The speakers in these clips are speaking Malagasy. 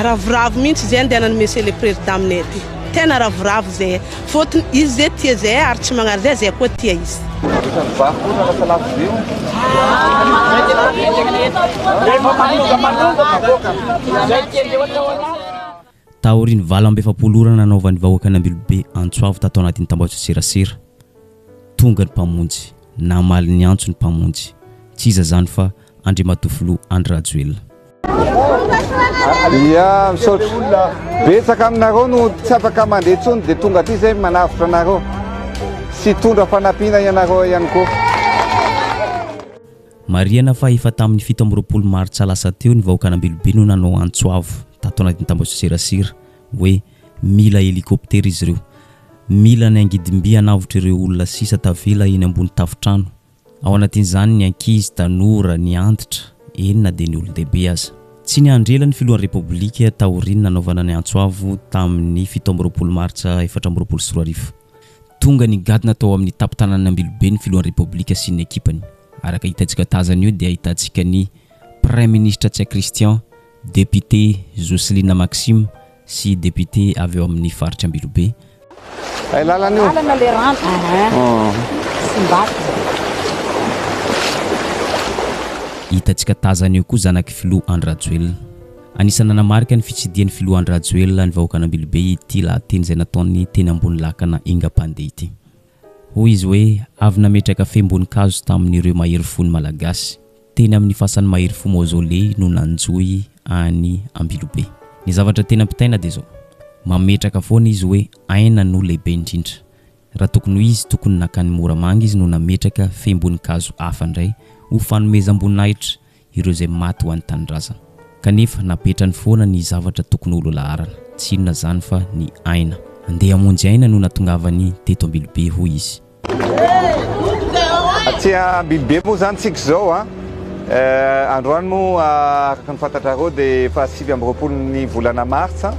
Ravoravo mihintsy izay andehanan'ny Monsieur le Président aminay aty. Tena ravoravo izay. Fôtony izy izay tia izay ary tsy magnary izay, izay koa tia izy. Rehefa mivaha koa raha lasa lafo be hono. Taorian'ny valo amby efapolo ora nanaovan'ny vahoakan'i Ambilobe antso avo tato anatin'ny tambajotserasera, tonga ny Mpamonjy, namaly ny antso ny Mpamonjy, tsy iza izany fa Andriamatoa Filoha Andry Rajoelina. Ia, misaotra. Betsaka aminareo no tsy afaka mandeha intsony dia tonga aty izay manavotra anareo sy hitondra fanampiana ianareo ihany koa. Marihana fa efa tamin'ny fito amby roapolo martsa lasa teo ny vahoakan'Ambilobe no nanao antso avo tato anatin'ny tambajotserasera hoe mila helikoptera izy ireo, mila ny angidim-by hanavotra ireo olona sisa tavela eny ambony tafontrano Ao anatin'izany ny ankizy, tanora, ny antitra, eny na dia ny olon-dehibe aza. Tsy niandry ela ny Filohan'ny Repoblika taorian'ny nanaovana ny antso avo tamin'ny fito amby roapolo martsa efatra amby roapolo sy roa arivo. Tonga nigadona tao amin'ny tampon-tananan'ny Ambilobe ny Filohan'ny Repoblika sy ny ekipany. Araka hitantsika tazana io dia ahitantsika ny Praiminisitra Tsiakristyan, Depiote Jocelina Maxime sy depiote avy ao amin'ny faritra Ambilobe. Ay lalana io. Lalana le rano. Hitantsika tazana eo koa zanak'i Filoha Andry Rajoelina. Anisan'ny nanamarika ny fitsidihan'ny Filoha Andry Rajoelina ny vahoakan'Ambilobe ity lahateny izay nataony teny ambony lakana Engapandeha ity. Hoy izy hoe, Avy nametraka fehim-boninkazo tamin'ireo mahery fo ny Malagasy. Teny amin'ny fasan'ny mahery fo Maozoley no nanjohy an'i Ambilobe. Ny zavatra tena ampitaina dia izao, mametraka foana izy hoe aina no lehibe indrindra. Raha tokony ho izy, tokony nankany Moramanga izy no nametraka fehim-boninkazo hafa indray ho fanomezam-boninahitra ireo izay maty ho an'ny tanindrazana. Kanefa napetrany foana ny zavatra tokony ho lolaharana, tsy inona izany fa ny aina. Andeha hamonjy aina no natongavany teto Ambilobe, hoy izy. Aty Ambilobe moa izany tsika izao an! Androany moa araka ny fantatrareo dia faha sivy amby roapolo ny volana martsa.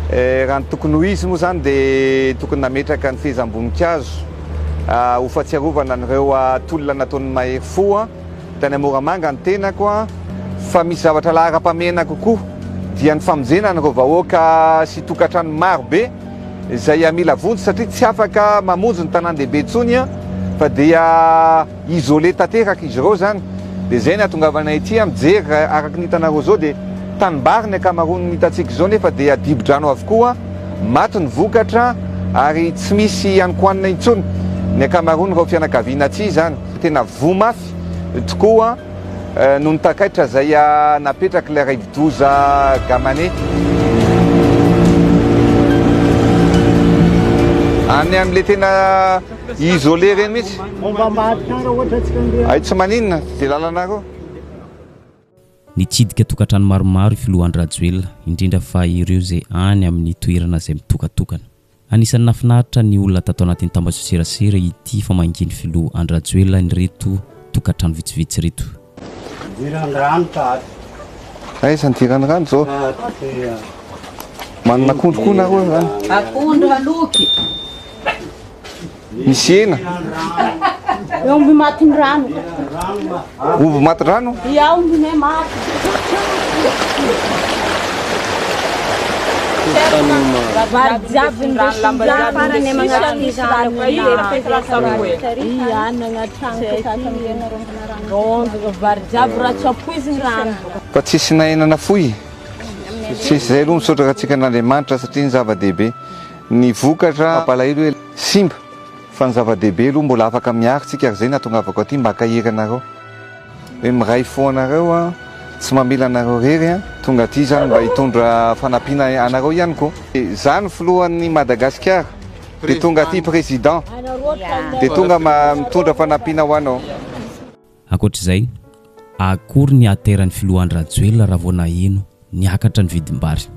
Raha ny tokony ho izy moa izany dia tokony nametraka ny fehezam-boninkazo ho fahatsiarovana an'ireo tolona nataon'ny mahery fo. Tany Moramanga ny tenako an! Fa misy zavatra laharam-pahamehana kokoa dia ny famonjena an'ireo vahoaka sy tokantrano maro be izay mila vonjy satria tsy afaka mamonjy ny tanàn-dehibe intsony an! Fa dia isolé tanteraka izy ireo izany! Dia izay ny hahatongavanay ity an! Mijery raha araka ny hitanareo izao dia tanimbary ny ankamaroan'ny hitantsika izao nefa dia dibo-drano avokoa, maty ny vokatra ary tsy misy hanikohanina intsony ny ankamaroan'ireo fianakaviana aty izany. Tena voa mafy tokoa noho ny takaitra izay napetrak'ilay raivodoza Gamane. Any amin'ilay tena isolé ireny mihitsy. Ay tsy maninona, dia lalanareo. Nitsidika tokantrano maromaro i filoha Andry Rajoelina, indrindra fa ireo izay any amin'ny toerana izay mitokatokana. Anisan'ny nahafinaritra ny olona tato anatin'ny tambajotserasera ity famangian'ny filoha Andry Rajoelina an'ireto tokantrano vitsivitsy ireto. Idiran'ny rano tato. Aiza ny idiran'ny rano zao? Manana akondro koa nareo zany? Akondro aloky. Misy hena. Omby matin'ny rano. Omby matin'ny rano? Ia, omby ne maty. Vary jiaby ny rano farany manatry ny rano. Ia, nanaty trano sasany hena rongina rano. Vary jiaby raha tsy ampoiziny rano. Fa tsisy na hena nafoy? Tsisy, izay aloha misaotra antsika an'Andriamanitra satria ny zava-dehibe Ny vokatra mampalahelo hoe simba fa ny zava-dehibe aloha mbola afaka miaro tsika ary zay nahatongavako aty mba akahery anareo hoe miray fo anareo an tsy mamela anareo rery an tonga aty zany mba hitondra fanampiana anareo ihany ko za ny filohan'ny Madagasikara de tonga aty president de tonga mitondra fanampiana ho anao. Ankoatra izay, akory ny ateran'ny filoha Andry Rajoelina raha vao naheno niakatra ny vidim-bary.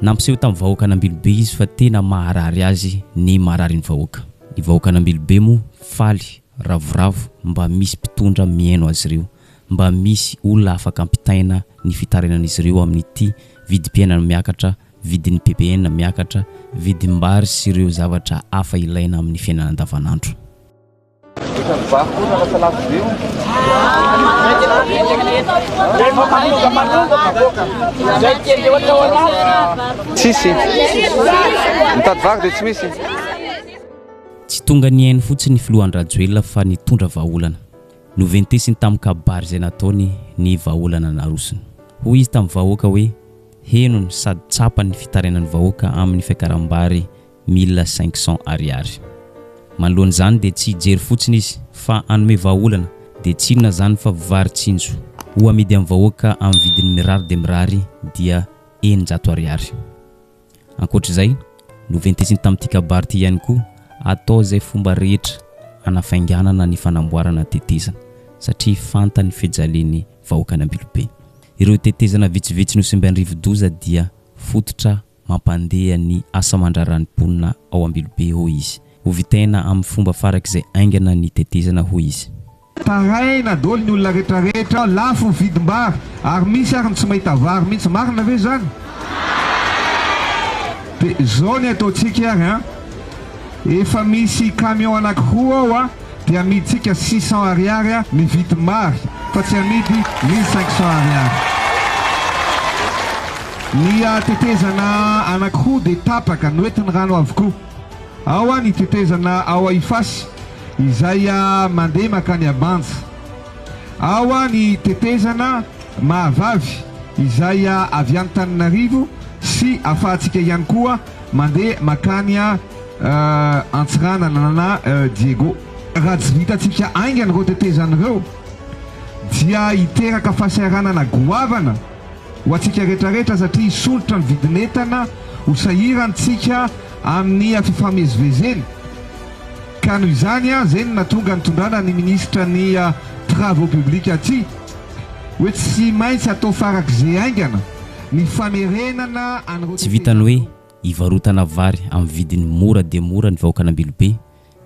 Nampiseho tamin'ny vahoakan'Ambilobe izy fa tena maharary azy ny mararin'ny vahoaka. Ny vahoakan'Ambilobe moa faly ravoravo mba misy mpitondra mihaino azy ireo, mba misy olona afaka ampitaina ny fitarinan'izy ireo amin'ity vidim-piainana miakatra, vidin'ny ppn miakatra, vidim-bary sy ireo zavatra hafa ilaina amin'ny fiainana andavanandro. Tsy tonga nihaino fotsiny ny filoha Andry-Rajoelina fa nitondra vahaolana. Noventesiny tamin'ny kabary izay nataony ny vahaolana narosony. Hoy izy tamin'ny vahoaka hoe henony sady tsapany ny fitarainan'ny vahoaka amin'ny fiakaram-bary Mila cinq cents ariary. Manoloana izany dia tsy hijery fotsiny izy fa hanome vahaolana dia tsy inona izany fa vary tsinjo ho amidy amin'ny vahoaka amin'ny vidiny mirary dia mirary dia eninjato ariary. Ankoatra izay, noventesiny tamin'ity kabary ity ihany koa atao izay fomba rehetra hanafainganana ny fanamboarana ny tetezana satria fantany fijalian'ny vahoakan'Ambilobe. Ireo tetezana vitsivitsy nosimbain'ny rivodoza dia fototra Mampandeha ny asa aman-draharahan'ny mponina ao Ambilobe, hoy izy. Hovitaina amin'ny fomba farak'izay haingana ny tetezana, hoy izy. Taraina daholo ny olona rehetra rehetra, lafo ny vidim-bary ary misy ary ny tsy mahita vary mihitsy, marina ve izany? Dia izao ny ataontsika ary an! Efa misy camion anankiroa ao an! Dia amidintsika six cents ariary a mividy mary fa tsy amidy mille cinq cents ariary. Ny tetezana anankiroa dia tapaka, noentin'ny rano avokoa. Ao a ny tetezana ao a Ifasy izay a mandeha makany a Banja. Ao a ny tetezana Mahavavy izay a avy any Taninarivo sy afahantsika ihany koa mandeha makany a. Antsiranana na Diego. Raha tsy vitantsika haingana ireo tetezana ireo dia hiteraka fahasahiranana goavana ho antsika rehetrarehetra satria hisondrotra ny vidin'entana, ho sahirantsika amin'ny fifamezivezena ka noho izany izay no nahatonga nitondrana ny Ministra ny Travaux Publics aty hoe tsy maintsy atao farak'izay haingana ny famerenana an'ireo tetezana ireo. Hivarotana vary amin'ny vidiny mora dia mora ny vahoakan'Ambilobe,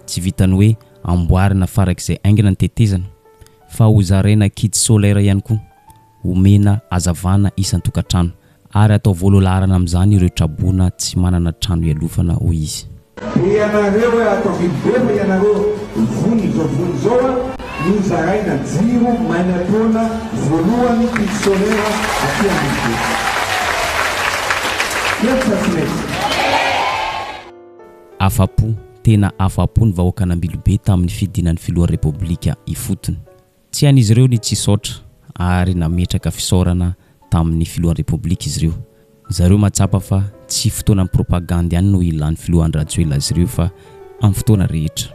tsy vitan'ny hoe amboarina farak'izay haingana ny tetezana, fa hozaraina kit solaire ihany koa, homena hazavana isan-tokantrano, ary hatao voalolaharana amin'izany ireo traboina tsy manana trano hialofana, hoy izy. Dia ianareo e ato Ambilobe fa ianareo vono izao vono izao a! Nozaraina jiro maina taona voalohany pile solaire aty Ambodibe. Miady sa tsy miady? Afa-po, tena afa-po ny vahoakan'Ambilobe tamin'ny fidinan'ny filoha Repoblika ifotony. Tsy hain'izy ireo ny tsy hisaotra ary nametraka fisaorana tamin'ny filohan'ny Repoblika izy ireo. Zareo mahatsapa fa tsy fotoanan'ny propagandy ihany no ilan'ny filoha Andry Rajoelina azy ireo fa amin'ny fotoana rehetra.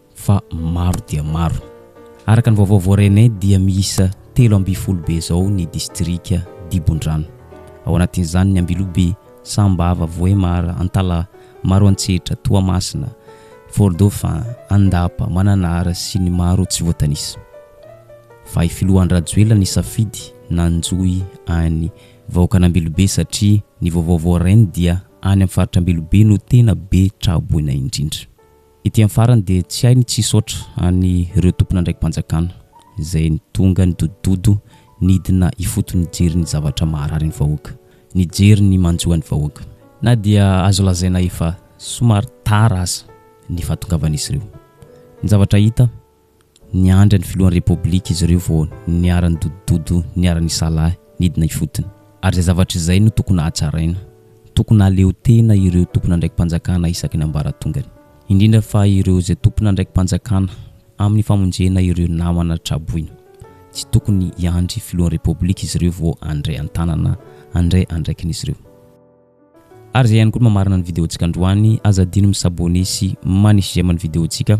fa maro dia maro. Araka ny vaovao voarenay dia miisa telo ambin'ny folo be izao ny distrika dibon-drano. Ao anatin'izany ny Ambilobe, Sambava, Vohemar, Antalaha, Maroantsetra, Toamasina, Fort Dauphin, Andapa, Mananara sy ny maro tsy voatanisa. Fa i Filoha Andry Rajoelina nisafidy nanjohy an'i vahoakan'Ambilobe satria ny vaovao voarainy dia any amin'ny faritr'Ambilobe no tena be tra-boina indrindra. Ety amin'ny farany dia tsy hay ny tsy hisaotra an'ireo tompon'andraiki-panjakana izay tonga nidodododo nidina ifotony nijery ny zavatra maharary ny vahoaka, nijery ny manjo an'ny vahoaka. Na dia azo lazaina efa somary tara aza ny fahatongavan'izy ireo, ny zavatra hita, Niandry an'ny filohan'ny Repoblika izy ireo vao niara-nidodododo niara-nisalahy nidina ifotony. Ary izay zavatra izay no tokony hahatsaraina. Tokony hahaleo tena ireo tompon'andraiki-panjakana isaky ny ambaratongany. Indrindra fa ireo izay tompon'andraiki-panjakana amin'ny famonjena ireo namana tra-boina. Tsy tokony hiandry filohan'ny Repoblika izy ireo vao handray an-tanana handray andraikin'izy ireo. Ary izay ihany koa no mamarana ny video-ntsika androany. Aza adino mi-s'abonner sy manisy j'aime ny video-ntsika.